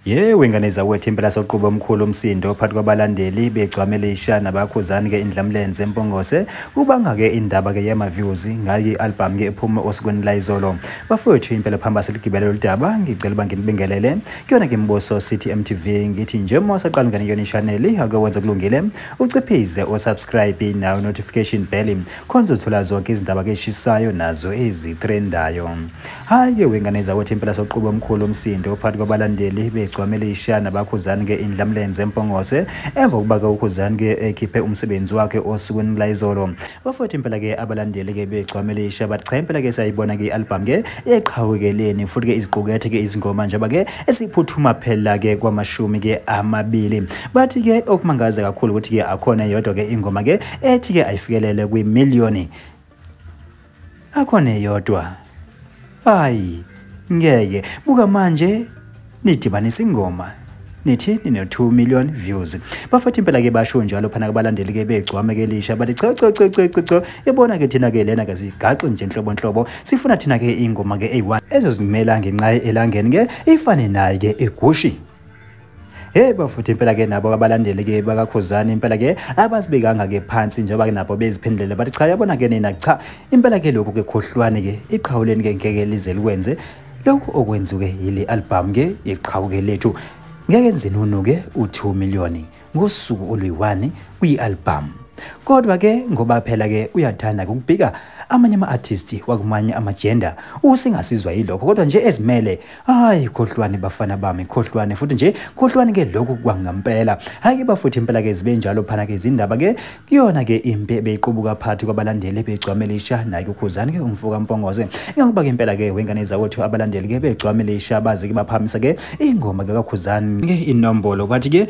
Yewe ngane zakwethu impela soqube omkhulu umsindo phakathi kwabalandeli begcwamele isha nabakhuzani ke indlamlenze empongose kubanga ke indaba ke yama views ngayi album ke ephume osukwini la izolo bafowethu impela phamba siligibele loludaba ngicela uba nginibingelele kuyona ke mboso city mtv ngithi nje uma usaqala ngane yona channel ake wenze kulungile uciphize o subscribe nayo notification bell khonze uthola zonke izindaba keshisayo nazo ezitrendayo hhayi-ke wengane zakwethu impela soquba omkhulu umsindo phakathi kwabalandeli begcwamele ishana bakhuzani ke indlamlenze empongose emva kokuba-ke ukhuzani ke ekhiphe umsebenzi wakhe osukwini layizolo bafowethu impela-ke abalandeli-ke begcwamele isha bathi cha impela-ke siyayibona-ke i-albhamu ke eqhawekeleni futhi-ke iziqukethe-ke izingoma njengoba-ke esiphuthuma phela-ke kwamashumi-ke amabili bathi-ke okumangaza kakhulu ukuthi-ke akhona yodwa-ke ingoma-ke ethi ke ayifikelele kwimiliyoni akho neyodwa hayi ngeke buka manje nidibanisa ingoma nithi nine-2 million views bafethu impela ke basho njalo phana kubalandeli ke begcwame ke lisha bathi cha cha cha cha cha yabona ke thina ke lena ke sigaxi nje nhlobo nhlobo sifuna thina ke ingoma ke eyi-1 ezozimela ngenqaye elangeni ke ifane naye ke egushi Hey bafuthi impela ke nabo abalandeli ke bakakhuzani impela ke abasibekanga ke phansi njengoba ke nabo beziphendulele bathi cha yabona ke nina cha impela ke lokhu ke khohlwane ke iqhawuleni ke ngeke lize likwenze lokhu okwenzuke yile album ke yeqhawuke lethu ngeke nzenunu ke u2 million ngosuku oluyi-1 kwi-albhamu kodwa ke ngoba phela ke uyathanda ukubhika amanye ama-artisti wakumanye amajenda usingasizwa yilokho kodwa nje ezimele hayi khohlwane bafana bami khohlwane futhi nje khohlwane ke lokhu kwangampela hhayi ke bafuthi impela ke zibe njalo phana ke izindaba ke Kuyona ke impi ebeyiqubuka phakathi kwabalandeli ebegcwamelisha naye ukhuzani ke umfo kaMpongoze. Ingokuba ke impela ke wengane zakwethu abalandeli ke begcwamelisha baze ke baphamisa ke ingoma ke kakhuzani ke inombolo bathi ke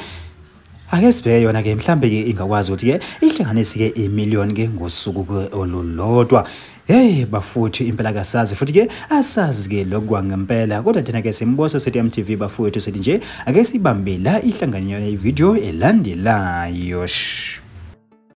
ake sibheke yona ke mhlambe ke ingakwazi ukuthi ke ihlanganise ke imillion ke ngosuku olulodwa Hey bafowethu impela kasazi futhi ke asazi ke lokwa ngempela kodwa thina ke simboso sethi MTV bafowethu sithi nje ake sibambe la ihlanganyo le video elandelayo.